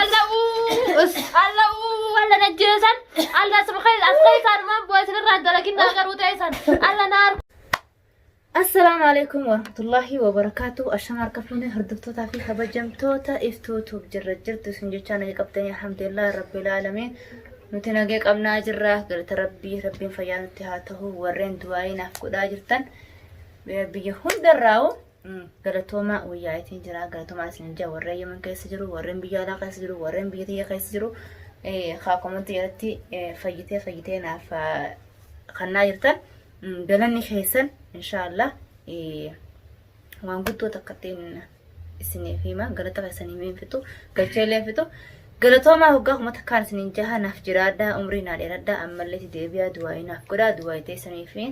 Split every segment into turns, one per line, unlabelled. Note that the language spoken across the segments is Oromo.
Allah us Allah wala najjeesan Allah subhanahu as keessaan maan bu'aa isinirraa dalagin naa garuu ta'esan Allah naar
Assalaamu alaikum warahmatullahi wabarakaatu. Ashama harka fuune hordoftootaa fi kabajamtoota iftuutuuf jirra jirtu isin jechaa naga qabdanii alhamdulillah rabbil aalamiin. Nuti naga qabnaa jirra galata rabbii rabbiin fayyaa nutti haa ta'u warreen du'aayii naaf godhaa jirtan biyya hundarraa'u Galatoomaa wayyaa itiin jira galatoomaa isin jira warreen yemen keessa jiru warreen biyya alaa keessa jiru warreen biyya tiyya keessa jiru haa komantii irratti fayyitee fayyitee naaf kannaa jirtan galanni keessan inshaallah waan guddoo takka ittiin isiniif hima galata keessanii miin fixu galchee illee fixu Galatoomaa hoggaa kuma takkaan isiniin jaha naaf jiraadhaa umrii naa dheeradhaa ammallee itti deebi'aa du'aa'ii naaf godhaa du'aa'ii teessanii fi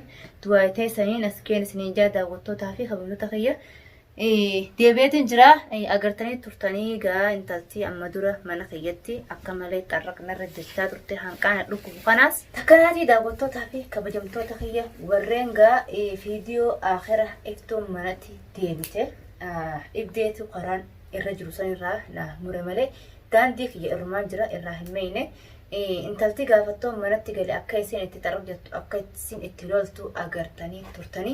du'aa'ii teessaniin as keen isiniin jaha daawwattootaa fi kabajamtoota kiyya deebi'eetiin jira agartanii turtanii gaa intaltii amma dura mana kiyyatti akka malee xarraqnarra jechaa turte hanqaana dhukkubu kanaas takkanaatii daawwattootaa fi kabajamtoota kiyya warreen gaa viidiyoo akira iftuun manatti deebite dhibdeetu karaan irra jiru san irraa na mure malee daandii kiyya irrumaan jira irraa hin meeyne intalti gaafattoo manatti gale akka isin itti xarab jettu akka isin itti loltu agartanii turtanii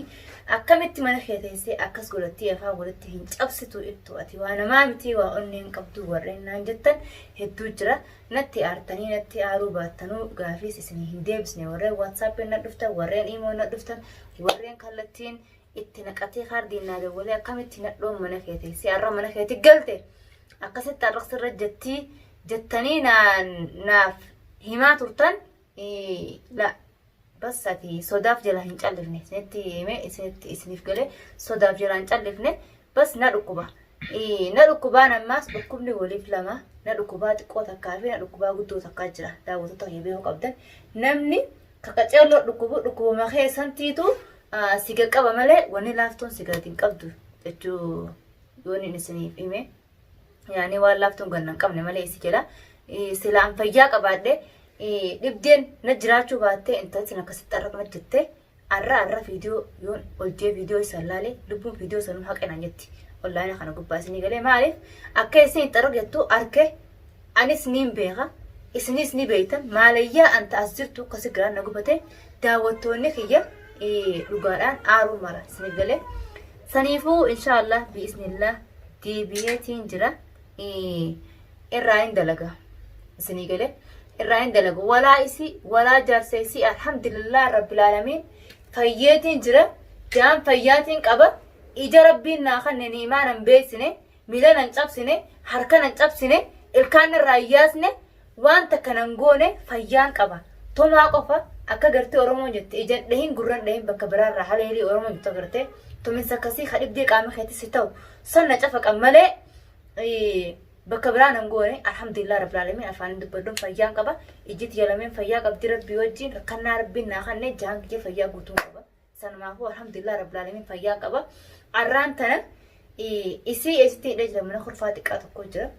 akkamitti mana kee teessee akkas godhattii afaan walitti hin cabsitu ittu ati waa namaa mitii waa onneen qabduu warreen naan jettan hedduu jira natti aartanii natti aaruu baattanuu gaafiis isin hin deebisne warreen waatsaappiin na dhuftan warreen imoo na dhuftan warreen kallattiin itti naqatee kaardiin naa dawwalee akkamitti nadhoon mana keeti si har'a mana keeti galte akkasitti har'aqsi irra jettii jettanii naaf himaa turtan la bassati sodaaf jala hin callifne isinitti himee isinitti isiniif galee sodaaf jala hin callifne bas na dhukkuba na dhukkubaan ammaas dhukkubni waliif lama na dhukkubaa xiqqoo takkaa fi na dhukkubaa guddoo takkaa jira daawwattoota kiyya beekuu qabdan namni kaqaceelloo dhukkubu dhukkubuma keessantiitu Si qaqqaba malee wanni laaftuun si gadi hin qabdu jechuu yoon inni isiniif hime. Yaani waan laaftuun ganna hin qabne malee si jedha. Sila an fayyaa qabaadhe dhibdeen na jiraachuu baattee intalti akkasitti har'a kana jettee har'a har'a viidiyoo yoon hojjee viidiyoo isaan laalee lubbuun viidiyoo sanuu haqe naan jetti. Onlaayina kana gubbaa isinii galee maaliif akka isin itti argattu harkee Anis niin beeka, isiniis ni beektan. Maalayyaa anta as jirtu kasi garaan na gubate. Daawwattoonni kiyya dhugaadhaan aaruu mara isiniif galee. Saniifuu inshaallah bi'iznillah deebi'eetiin jira. Irraa hin dalaga. Isinii galee. Irraa hin dalaga. Walaa isii, walaa jaarsa isii alhamdulillah rabbil aalamiin fayyeetiin jira. Jaan fayyaatiin qaba. Ija rabbiin naa kanne ni'imaa nan beeksine. Miila nan cabsine, harka nan cabsine, ilkaan narraa hin yaasne, waan takka nan goone fayyaan qaba. Tumaa qofa akka gartee Oromoon jette ijan dhahin gurran dhahin bakka biraarraa haleelii Oromoon jettu agartee tuminsa akkasii ka dhibdee qaama keetis si ta'u san na cafaqan malee bakka biraa nan goone alhamdulillah rabbil alamin afaan dubbadhun fayyaan qaba ijjiti yalameen fayyaa qabdi rabbii wajjiin rakkannaa rabbiin naa kanne jaan kiyya fayyaa guutuun qaba. Sanumaafuu alhamdulillah rabbil alamin fayyaa qaba. Arraan tana isii eessitti hidhee jira mana kurfaa xiqqaa tokko jira.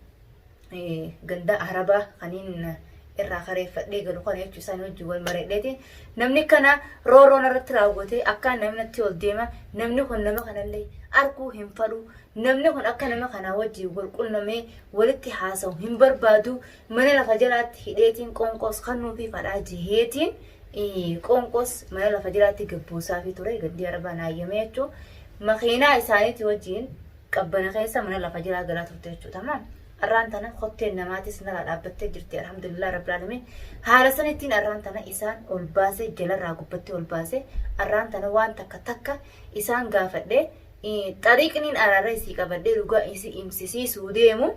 Ganda arabaa kaniin irraa kareeffadhee galu kana jechuun isaan wajjin wal mareedheeti. Namni kana rooroon irratti raawwatee akka namnatti ol deema namni kun nama kanallee arguu hin fadhu namni kun akka nama kanaa wajjin wal qunnamee walitti haasa'u hin barbaadu Mana lafa jalaatti hidheetiin qoonqoos kannuufiif hadhaa jeheetiin qoonqoos mana lafa jalaatti gabbuusaafii ture gandii arbaa naayyamee jechuun makiinaa isaaniitii wajjiin qabbana keessa mana lafa jalaa galaa turte jechuudha tamaam. Arraan tana kotteen namaatis nalaa dhaabbattee jirti alhamdulillah rabbil alamin haala sanittiin arraan tana isaan ol baasee jalarraa gubbattee ol baasee arraan tana waan takka takka isaan gaafadhee Xariiqniin araarra isii qabadhee dhugaa isii imsisiisuu deemu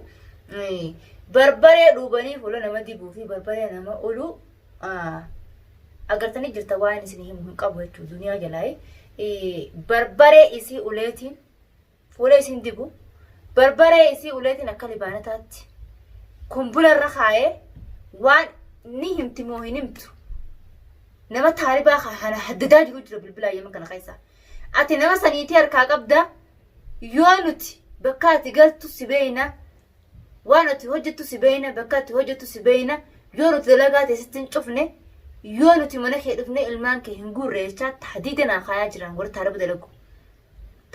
barbaree dhuubanii fuula nama dibuu fi barbaree nama oluu agartanii jirta waan isin himu hin qabu jechuudha duniyaa jalaa barbaree isii uleetiin fuula isin dibu barbaree isii uleetiin akka libaanataatti kumbula irra kaayee waan ni himti moo hin himtu nama taalibaa kana haddadaa jiru jira bilbilaa yeman kana keessaa. Ati nama sa niitii harkaa qabda yoo nuti bakka ati galtu si beeyna waan ati hojjettu si beeyna bakka ati hojjettu si beeyna yoo nuti dalagaa ta'e sitti hin cufne yoo nuti mana kee dhufne ilmaan kee hin guurre jechaa tahdiida naa kaayaa jiran warri taaraba dalagu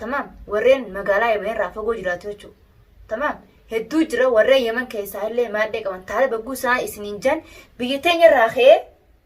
tamaam warreen magaalaa yaman irraa fagoo jiraatu jechuudha tamaam hedduu jira warreen yaman keessaa illee maadhee qaban taaraba guu isaan isiniin jaan biyya teenya irraa ka'ee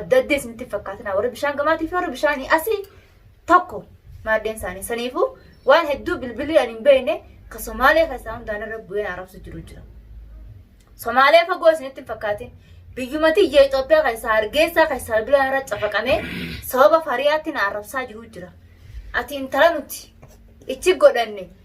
Adda adda isinitti hin fakkaatinaa warri bishaan gamaatii fi warri bishaanii asii tokko maaddeen isaanii saniifuu waan hedduu bilbilii ani hin beekne ka Somaalee keessaa hundaan irra bu'ee na arrabsu jiru jira. Somaalee fagoo isinitti hin fakkaatin biyyuma tiyya Itoophiyaa keessaa Hargeessaa keessaa bilbilaa irra cafaqamee sababa fariyaatti na arrabsaa jiru jira. Ati intala nuti ichi godhanne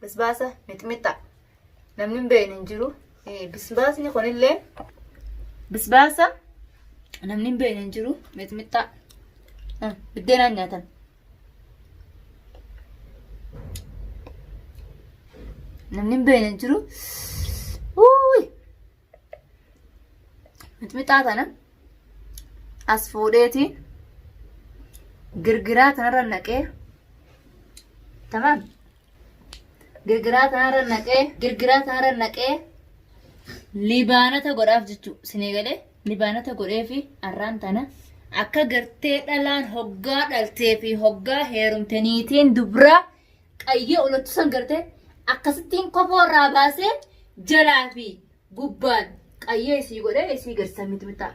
Bisbaasa mixmixaa namni hin beekne hin jiru. Eh, Bisbaasni kunillee bisbaasa namni hin beekne hin jiru mixmixaa Eh, biddeenaan nyaatan. Namni hin beekne hin jiru. Uuy! mixmixaa tana as fuudheetiin girgiraa tanarra naqee tamam girgiraa tanarra naqee girgiraa tanarra naqee libaanata godhaaf jechuu sinii galee libaanata godhee fi arraan tana akka gartee dhalaan hoggaa dhaltee fi hoggaa heerumte niitiin dubraa qayyee olottu san garte akkasittiin kofoo irraa baasee jalaa fi gubbaan qayyee isii godhee isii garsiisa miti bitaa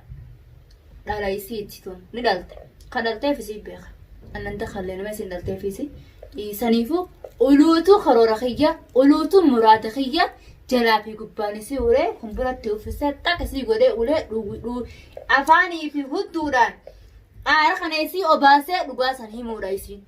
dhala isiiti tun ni dhalte kan dhalteef isii beeka annan takallee nama isin dhalteef isii dhiisaniifuu uluutuu karoora kiyya uluutuu muraada kiyya jalaa fi gubbaan isii ulee kun biratti uffisee xaq isii godhee ulee dhuu afaanii fi hudduudhaan aara kana isii obaasee dhugaa san himuudha isiin.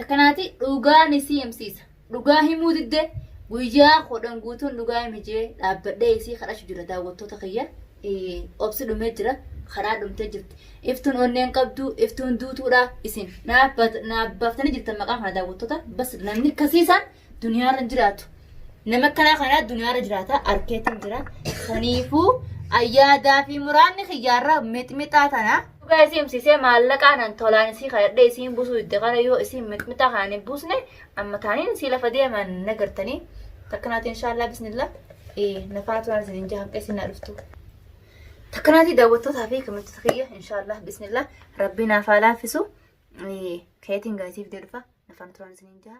Akkanaati dhugaa ni si himsiisa. Dhugaa himuu didde guyyaa kudhan guutuun dhugaa himi jee dhaabbadhee isii kadhachu jira daawwattoota kiyya. Eh, Obsi dhumee jira. Karaa dhumtee jirti. Iftuun onneen qabdu, iftuun duutuudha. Isin naaf bat- naaf baaftanii jirtan maqaa kana daawwattoota. Bas namni kasiisaan duniyaarra hin jiraatu. Nama akkanaa kanaa duniyaarra jiraata arkeetiin jira. Kaniifuu ayyaadaa fi muraanni kiyyaarra mixmixaa tana. Dhugaa isii himsiisee maallaqaanan tolaan isii kadhadhee isiin busuu itti kana yoo isiin mixmixaa kanaan hin buusne amma taaniin isii lafa deeman na gartanii. Takkanaatii inshaallah bismillah. Ee nafaa turaan isin hin jahamqee isin na dhuftu. Takkanaatii daawwattootaa fi kamittoota kiyya inshaallah bismillah rabbii naaf haa laaffisu. Ee keetiin gaasiif deebifa nafaan turaan isin hin jaha.